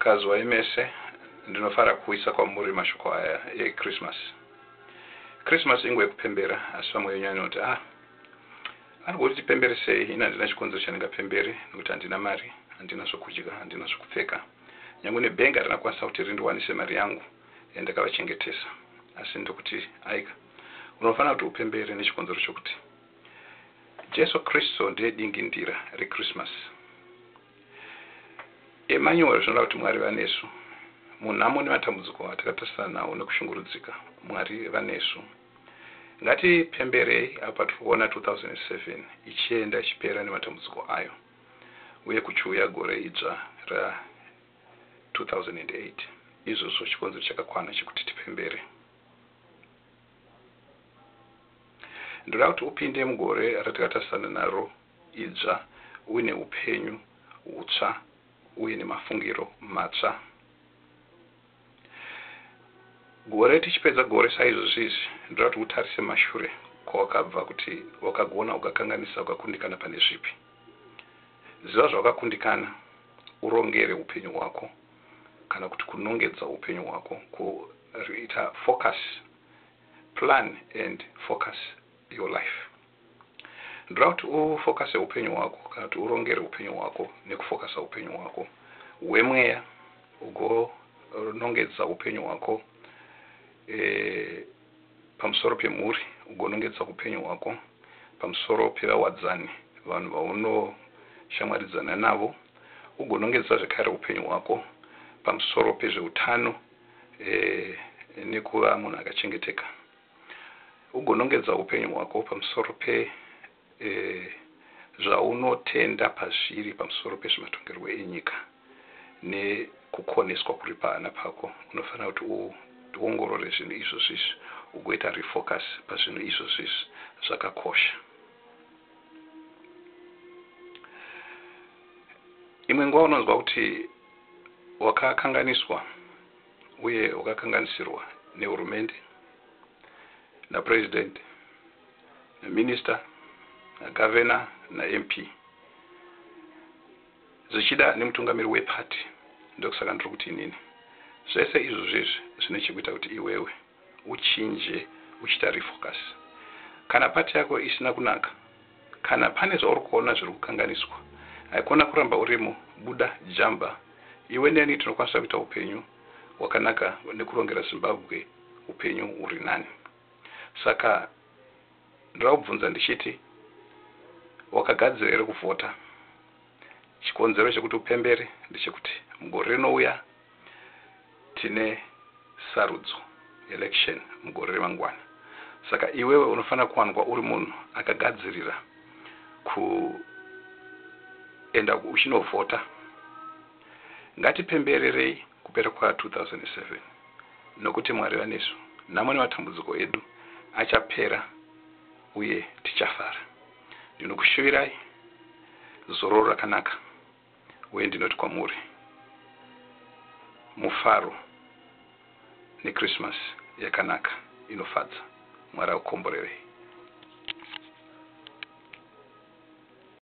Kazwai mese, ndinofara kuisa kwamuri mashoko aya eKrisimasi. Krisimasi inguva yekupembera, asi vamwe venyu vanoti, Ah, anoda kuti tipembere sei? Ini handina chikonzero chandingapembere, nekuti handina mari, handina zvokudya, handina zvokupfeka. Nyangwe nebhengi harina kukwanisa kuti rindiwanise mari yangu yandakavachengetesa. Asi ndokuti, Aika, unofanira kuti upembere nechikonzero chokuti Jesu Kristu ndiye dingindira reKrisimasi. Emmanuel, zvinoda kuti Mwari vanesu. Munhamo nematambudziko atakatarisana nawo nekushungurudzika, Mwari vanesu. Ngatipemberei apo patiri kuona 2007 ichienda ichipera nematambudziko ayo uye kuchiuya gore idzva ra 2008. Izvozvo chikonzero chakakwana chekuti tipembere. Ndoda kuti upinde mugore ratakatarisana naro idzva uye neupenyu hutsva uye nemafungiro matsva. Gore tichipedza gore saizvozvizvi, ndoda kuti utarise mashure kwawakabva kuti wakagona, ukakanganisa, ukakundikana pane zvipi. Ziva zvawakakundikana, urongere upenyu hwako kana kuti kunongedza upenyu hwako, ku ita focus, plan and focus. your life ndoda kuti ufokase upenyu hwako kana kuti urongere upenyu hwako nekufokasa upenyu hwako hwemweya ugonongedza upenyu hwako e, pamusoro pemhuri ugonongedza upenyu hwako pamusoro pevawadzani vanhu vaunoshamwaridzana navo ugonongedza zvekare upenyu hwako pamusoro pezveutano e, nekuva munhu akachengeteka Ugonongedza upenyu hwako pamusoro pe e zvaunotenda pazviri pamusoro pezvematongerwo enyika ne kukoneswa kuri pahana pako. Unofanira kuti u ongorore zvinhu izvozvizvi ugoita refocus pazvinhu izvozvizvi zvakakosha. Imwe nguva unonzwa kuti wakakanganiswa. uye wakakanganisirwa nehurumende, naPresident, naMinister, naGavernor naMP zvichida nemutungamiri weparty ndokusaka ndiri kuti inini. Zvese izvozvo izvi zvine chekuita kuti iwewe. uchinje uchiita refocus kana part yako isina kunaka kana pane zvauri kuona zviri kukanganiswa haikona kuramba urimo buda jamba iwe neni tinokwanisa kuita upenyu hwakanaka nekurongera zimbabwe upenyu uri nani saka ndoda kubvunza ndichiti wakagadzira here kuvhota chikonzero chekuti upembere ndechekuti mugore rinouya tine sarudzo, election, mugore remangwana saka iwewe unofanira kuwanikwa uri munhu akagadzirira kuenda uchinovhota. Ngatipembererei kupera kwa 2007 nokuti Mwari vanesu, nhamo nematambudziko edu achapera uye tichafara. Ndinokushuvirai zororo rakanaka. uye ndinoti kwamuri, Mufaro neKrisimasi yakanaka inofadza. Mwari akukomborerei.